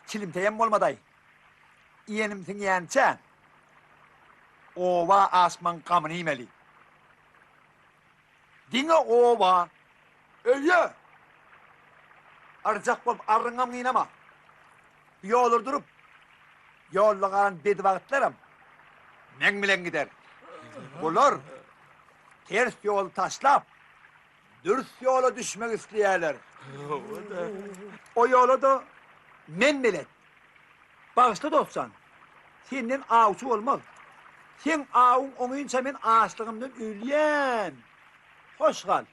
Çilimteýem bolmadaý. Iýenim siňýänçä, oba aşmaň gamyny iýmeli. Diňe oba, öýe! Arjak bolup arryňam gynama. Ýoly durup, ýolda galan bedibagtlaram meň bilen gider. Bular ters ýoly taşlap, dürs ýola düşmek isleýärler. O ýola-da men belet. Bagyşla, dostjan, senden awçy bolmaz. Seň awuň oňynça men açlygymdan ölýän. Hoş gal!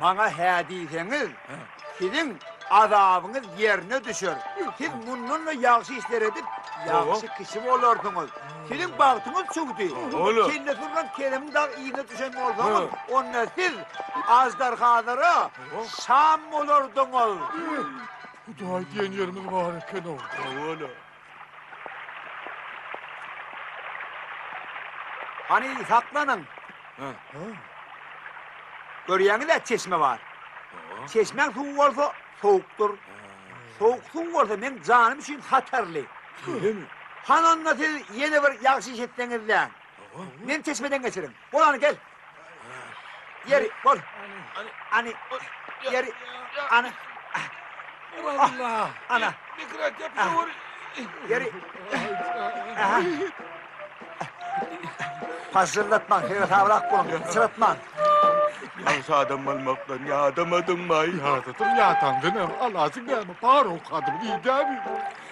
Maňa hä diýseňiz, siziň azabyňyz ýerine düşer. Siz mundan-da ýagşy işler edip, ýagşy kişi bolarsyňyz. Siziň bagtyňyz çüwdi. Kelle sürlen kelemiň dagy yzyna düşen bolsaňyz, onda siz aždarhalara şam bolardyňyz. Hudaý diýen ýerimiz bar eken-ow. Hawa-la. Hany saklanyň. Görýäňiz-ä çeşme bar. Çeşmäň suwy bolsa sowukdyr. Sowuk suw bolsa meň janym üçin hatarly. Şeýlemi? Hany onda siz ýene bir ýagşy iş etseňiz-dä. Men çeşmeden geçirin. Bol any gel. Ýeri bol. Any ýeri any. Allah. Ana. Mikrat ýapyşa ur. Ýeri. Paşyllatma, her sabrak bolun, çyratma. Ýaş adam bolmakdan ýadamadyňmy? Ýadadyň ýatan dinem, alasyň näme, paruk adam diýdämi?